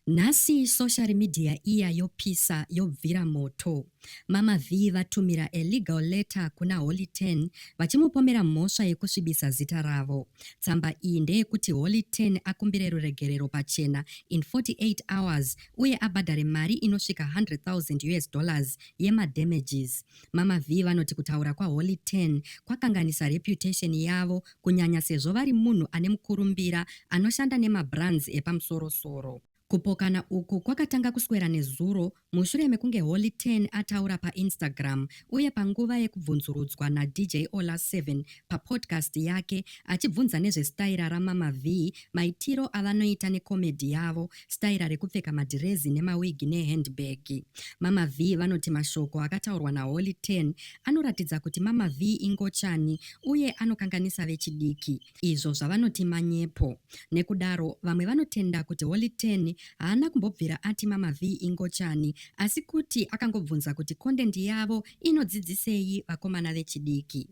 Nhasi social media iya yopisa yobvira moto. Mama Vee vatumira a legal letter kuna Holy Ten vachimupomera mhosva yekusvibisa zita ravo. Tsamba iyi ndeyekuti Holy Ten akumbire ruregerero pachena in 48 hours uye abhadhare mari inosvika 100,000 us dollars yema damages. Mama Vee vanoti kutaura kwaHoly Ten kwakanganisa reputation yavo kunyanya sezvo vari munhu ane mukurumbira anoshanda nemabrands epamusoro-soro. Kupokana uku kwakatanga kuswera nezuro mushure mekunge Holy Ten ataura paInstagram uye panguva yekubvunzurudzwa naDJ Ola Seven papodcast yake achibvunza nezvesitaira raMama Vee, maitiro avanoita necomedy yavo Staira rekupfeka madhirezi nemawigi nehandbag. Mama Vee vanoti mashoko akataurwa naHoly Ten anoratidza kuti Mama Vee ingochani uye anokanganisa vechidiki, izvo zvavanoti manyepo. Nekudaro, vamwe vanotenda kuti Holy Ten haana kumbobvira ati Mama Vee ingochani asi kuti akangobvunza kuti content yavo inodzidzisei vakomana vechidiki.